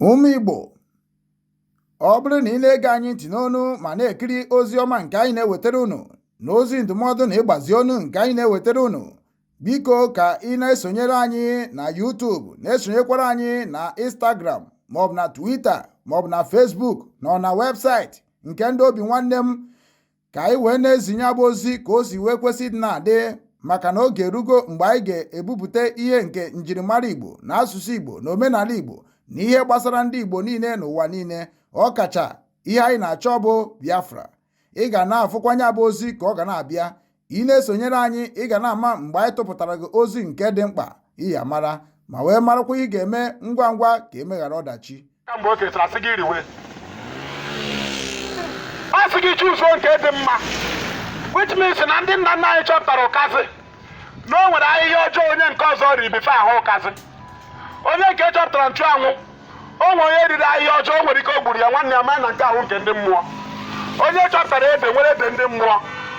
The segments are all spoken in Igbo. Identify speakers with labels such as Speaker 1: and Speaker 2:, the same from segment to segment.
Speaker 1: Ụmụ Igbo ọ bụrụ na ị na-ege anyị ntị n'onu ma na-ekiri ozi ọma nke anyị na-ewetara unu na ozi ndụmọdụ na ịgbazi ọnụ nke anyị na-ewetara unu biko ka ị na-esonyere anyị na YouTube na-esonyekwara anyị na Instagram maọbụ na Twitter maọbụ na Facebook na ọ na webụsaịtị nke ndị Obinwannem ka anyị wee na-ezi nya bụ ozi ka o si wee kwesị ịdị na-adị maka na oge erugo mgbe anyị ga-ebupụta ihe nke njirimara Igbo na asụsụ Igbo na omenala Igbo na ihe gbasara ndị Igbo niile n'ụwa niile ọkacha ihe anyị na-achọ bụ Biafra ị ga na-afụkwa nya bụ ozi ka ọ ga na-abịa ị na-esonyere anyị ị ga na-ama mgbe anyị tụpụtara gị ozi nke dị mkpa ị ya-amara ma wee marakwa ihe ị ga-eme ngwa ngwa ka emeghara ọdachi kamgbe o kechara
Speaker 2: sị gị riwe ọ sị gị chuzuo nke dị mma which means na ndị nna nna anyị chọpụtara ụkazị na o nwere ahịhịa ọjọọ onye nke ọzọ riri before a hụ ụkazị onye nke chọpụtara nchụanwụ o nwere onye riri ahịhịa ọjọọ o nwere ike o gburu ya nwanne ya maa na nke ahụ nke ndị mmụọ onye chọpụtara ede nwere ede ndị mmụọ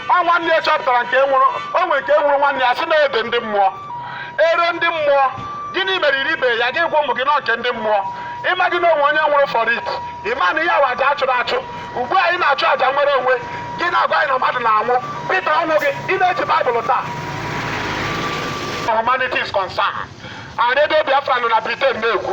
Speaker 2: ọ nwanne ya chọpụtara nke nwụrụ o nwere nke nwụrụ nwanne ya sị na ede ndị mmụọ ero ndị mmụọ gịnị mere iribe ya gị gwa ụmụ gị na ọ nke ndị mmụọ ị maghị na o nwere onye nwụrụ for it ị ma na ihe a wụ aja a chụrụ achụ ugbu a anyị na-achụ aja nnwere onwe gị na-agwa anyị na mmadụ na-anwụ Peter ọ nwụghị ị na-eji baịbụl taa humanity is concerned and redio biafra nọ na britain na-ekwu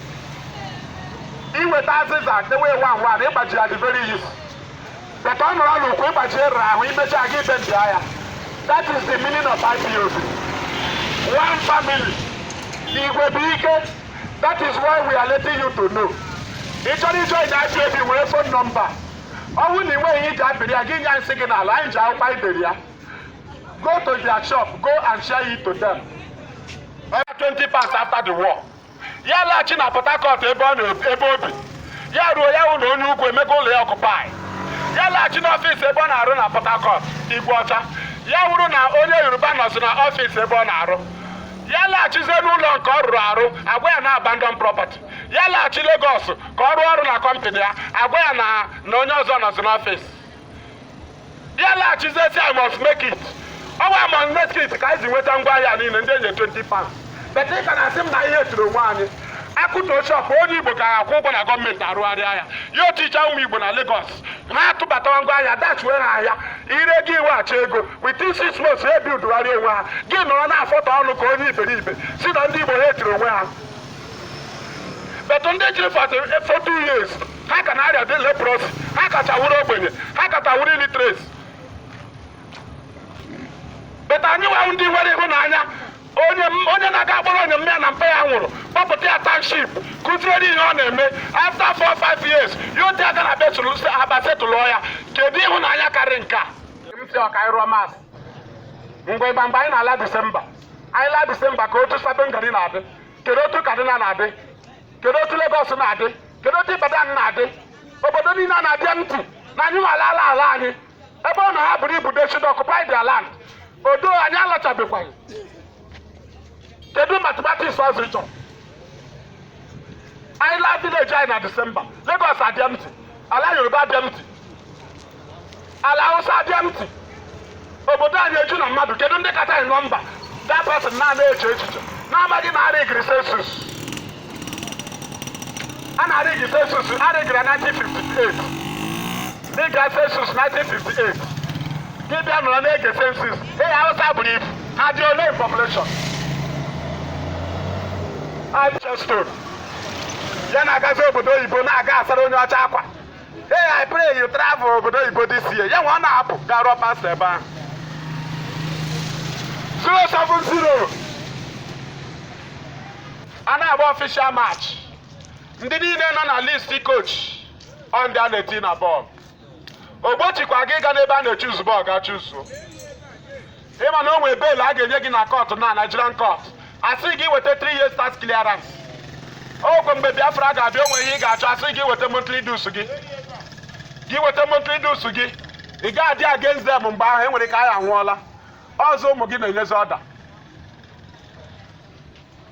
Speaker 2: i weta azịza dewe ewa ngwa na ịgbaji ya dị very easy but ọ nọrọ n'ukwu ịgbaji ya ara ahụ i mechaa aga ibe ndị agha that is the meaning of IPOB one family igwe bụ ike that is why we are letting you to know ị chọrọ ijoin IPOB were fon nọmba ọ bụrụ na ị nweghị iji apịrị ya gị nye nsị gị n'ala anyị ji akwụkwọ anyị dere ya go to their shop go and share it to them. Twenty pounds after the war. ya laghachi na Port Harcourt ebe ọ na- ebe o bi ya ruo ya hụ na onye ugwu emego ụlọ ya occupy ya laghachi n'ọfịs ebe ọ na-arụ na Port Harcourt Igweọcha ya hụrụ na onye Yoruba nọzi na ọfịs ebe ọ na-arụ ya laghachizie n'ụlọ nke ọ rụrụ arụ a gwa ya na abandon property ya laghachi Lagos ka ọ rụọ ọrụ na kọmpanị ya a gwa ya na onye ọzọ nọzi n'ọfịs ya laghachizie sị I must make it ọ wụ I must make it ka anyị si nweta ngwa ahịa niile ndị e nyere 20 pounds but ị ka na-asị m na anyị hate-iri onwe anyị a kụtuo shop onye igbo ka a kwụọ ụgwọ na gọọmenti arụgharịa ya oticha ụmụ igbo na Lagos ha atụbatawa ngwa ahịa dash-iwe ha ahịa i ree gị eweghachi ego within six months ha ebuildigharịa onwe ha gị nọrọ na-afọtọ ọnụ ka onye iberibe sị na ndị Igbo hate-iri onwe ha but ndị jiri for two years ha ka na-arịa dị leprosy ha kacha wụrụ ogbenye ha kacha wụrụ illiteracy but anyị wụ ndị nwere ịhụnanya onye onye na-aga akpọrọ onye mma ya na mpa ya nwụrụ kpọpụta ya township kuziere ihe ọ na-eme after four five years ya otu aga na betụlụ aba setụlụọ ya kedu ịhụnanya karị nke a m sị ọ ka ị rụọ maths mgbe ịgba mgbe anyị na-ala disemba anyị laa disemba ka otu Sabon Gari na-adị kedu otu Kaduna na-adị kedu otu Lagos na-adị kedu otu Ibadan na-adị obodo niile a na-adị empty na anyị nwa alaala ala anyị ebe ọ na ha buru ibu they should occupy their land although anyị alọchabekwaghị kedu mathematics ọzọ ị chọrọ anyị laa village anyị na disemba Lagos adị empty ala Yoruba adị empty ala Awụsa adị empty obodo anyị eju na mmadụ kedu ndị kacha anyị nọmba that person na-anaghị eche echiche na-amaghị na a rịgịrị census a na-arịgị census a rịgịrị na 1958 dịka census 1958 gị bịa nọrọ na-ege census ee Awụsa buru ibu ha dị ole in population Ancestor ya na-agazi obodo oyibo na-aga asara onye ọcha akwa Hey, I pray you travel obodo oyibo this year. Ya nwa ọ na-apụ gaa rụọ pastor ebe ahụ. 070 a na-agba official match. Ndị niile nọ na list coach ọ ndị a na-eti na bọọlụ. O gbochikwaghị ịga n'ebe a na-echuzu bọọlụ ga chuzuo. ị ma na o nwere bail a ga-enye gị na court na Nigerian court a sị gị weta 3 years tax clearance okay mgbe Biafra ga-abịa o nwe ihe ị ga-achọ a sị gị weta monthly dues gị gị weta monthly dues gị ị ga-adị against them mgbe ahụ e nwere ike anyị anwụọla ọzọ ụmụ gị na-enyezi order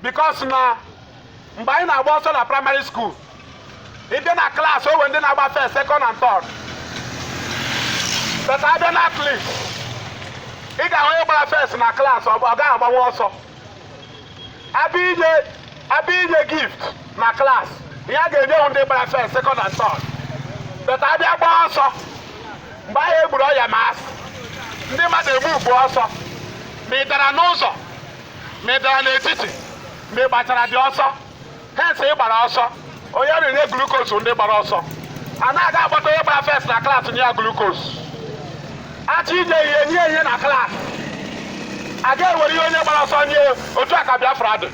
Speaker 2: because na mgbe anyị na-agba ọsọ na primary school ị bịa na class o nwere ndị na-agba first second and third but a bịa na athlete ị ga-ahụ onye gbara first na class ọ gaghị agbanwu ọsọ a bịa inye a bịa inye gift na class ihe a ga-enye wụ ndị gbara first second and third but a bịa gbaa ọsọ mgbe ahụ egburu ọya ma asị ndị mmadụ egbu ugbu ọsọ ma ị dara n'ụzọ ma ị dara n'etiti ma ị gbachara dị ọsọ hence ị gbara ọsọ onye na-enye glucose ndị gbara ọsọ a naghị akpọta onye gbara first na class nye ya glucose a chọọ inye ihe nye ihe na class a ga-ewere ihe onye gbara ọsọ nye otu a ka Biafra dị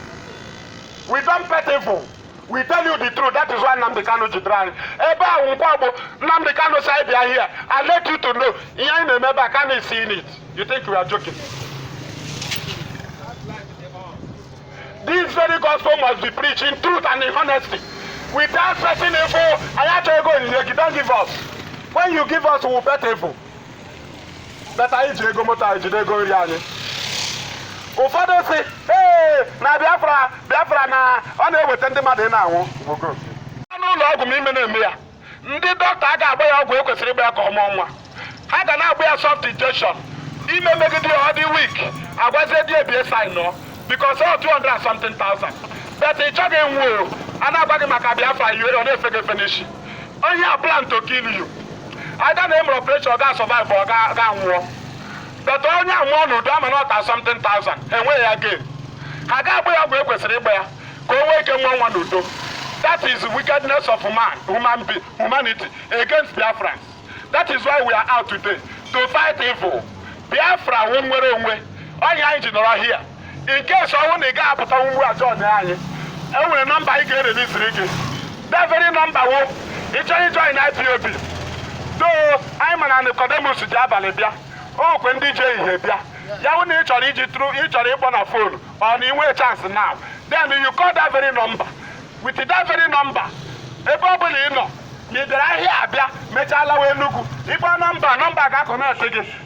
Speaker 2: we don't pay people we tell you the truth that is why Nnamdi Kanu jidere anyị ebe a wụ nkwa bụ Nnamdi Kanu sị anyị bịa here I let you to know ihe anyị na-eme ebe a Kanu is seeing it you think we are joking this very gospel must be preached in truth and in honesty without petting evil anyị achọghị ego onyinye gị don't give us when you give us we will pet evil but anyị ji ego moto anyị jide ego nri anyị ụfọdụ sị ee na biafra biafra na ọ na-eweta ndị mmadụ na-anwụ n'ụlọ ọgwụ ma ime na-eme ya ndị dọkịta agaghị agba ya ọgwụ ekwesịrị ịgba ya ka ọ mụọ nwa ha ga na-agba ya soft injection ime megide ya ọ dị weak agwazie di ya bịa signịọ because of 200 something thousand but ị chọghị nwuo a na-agwa gị maka biafra ihere ọ na-efe gị efe n'isi onye a plan to kill you either na e mere operation ọ ga-asurvive or ọ ga-anwụ but onye amụọ n'udo ama na thirty something thousand enweghị ya gain ha ga-agba ya ọgwụ ekwesịrị ịgba ya ka o nwee ike mụọ nwa n'udo that is the wickedness of man human be humanity against biafrans that is why we are out today to fight evil biafra wụ nwere onwe ọ ya anyị ji nọrọ here in case ọ wụ na ị gaghị apụta ugbu a join anyị e nwere nọmba a ga-ereliziri gị that very number ọ wụ ị chọrọ ijoin IPOB though anyị ma na Nicodemus ji abalị bịa o nwekwa ndị ji ehihie bịa ya bụ na ị chọrọ iji through ị chọrọ ịkpọ na phone or na i nweghị chance now then you call that very number with that very number ebe ọ bụla ị nọ ma ị bịara ahịa abịa mechaa lawa Enugu ị kpọọ nọmba nọmba ga-econnect gị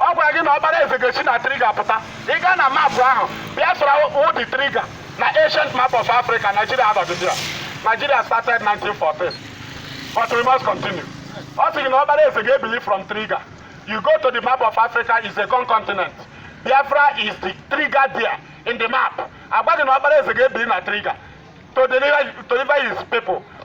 Speaker 2: ọ gwara gị na ọkpara eze ga-esi na trigger pụta ị gaa na map ahụ biafra wụ the trigger na ancient map of africa nigeria anọghịdị ya nigeria started 1914 but we must continue ọ sị gị na ọkpara eze ga-ebili from trigger you go to the map of africa is a con continent biafra is the trigger there in the map agwa gị na ọkpara eze ga-ebili na trigger to deliver, to deliver his people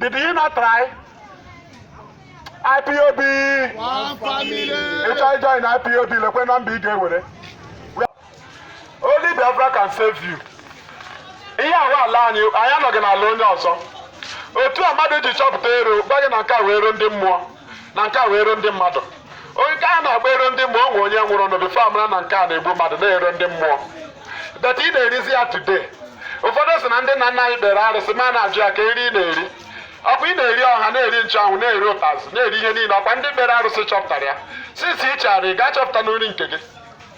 Speaker 2: Did you not try?
Speaker 3: IPOB! Ị chọọ join
Speaker 2: IPOB lekwe nọmba ị ga-ewere. Only Biafra can save you. Ihe a wụ ala anyị anyị anọghị n'ala onye ọzọ. Otu a mmadụ ji chọpụta ero gwa gị na nke a wụ ero ndị mmụọ. na nke a wụ ero ndị mmadụ onye nke a na-akpọ ero ndị mmụọ o nwere onye nwụrụ anwụ before a mara na nke a na-egbu mmadụ na ero ndị mmụọ but ị na-erizi ya today ụfọdụ sị na ndị nna nna anyị kpere arụsị ma na-ajụ ya ka eri ị na-eri ọkwa ị na-eri ọha na-eri nchụanwụ na-eri ụtazị na-eri ihe niile ọkwa ndị kpere arụsị chọpụtara ya since ị chara ị ga-achọpụta na nri nke gị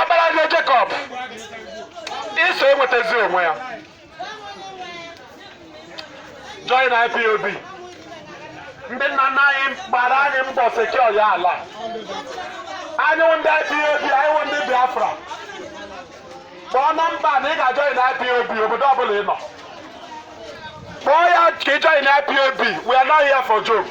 Speaker 2: ọkpara nye Jekọb Ịsọ enwetazi onwe ya join IPOB ndị nna nna anyị gbara anyị mbọ secure ya ala anyị wụ ndị IPOB anyị wụ ndị Biafra kpọọ nọmba na ị ga-ajoin IPOB obodo ọbụla ị nọ kpọọ ya ka ị join IPOB we are not here for joke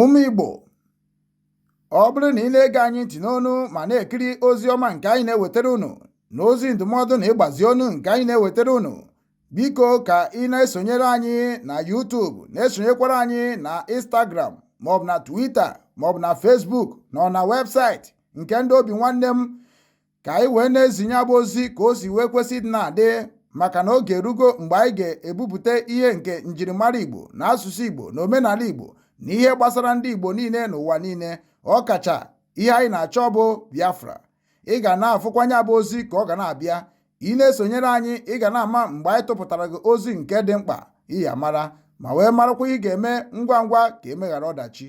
Speaker 1: Ụmụ Igbo, ọ bụrụ na ị na-ege anyị ntị n'onu ma na-ekiri ozi ọma nke anyị na-ewetara unu na ozi ndụmọdụ na ịgbazi onu nke anyị na-ewetara unu, biko ka ị na-esonyere anyị na YouTube na-esonyekwara anyị na Instagram maọbụ na Twitter maọbụ na Facebook na na webụsaịtị nke ndị Obinwannem ka anyị wee na-ezi nya bụ ozi ka o si wee kwesị ịdị na-adị maka na oge erugo mgbe anyị ga-ebupụta ihe nke njirimara Igbo na asụsụ Igbo na omenala Igbo na ihe gbasara ndị Igbo niile n'ụwa niile ọkacha ihe anyị na-achọ bụ Biafra ị ga na-afụkwa nya bụ ozi ka ọ ga na-abịa ị na-esonyere anyị ị ga na-ama mgbe anyị tụpụtara gị ozi nke dị mkpa ị ya-amara ma wee marakwa ihe ị ga-eme ngwa ngwa ka e meghara ọdachi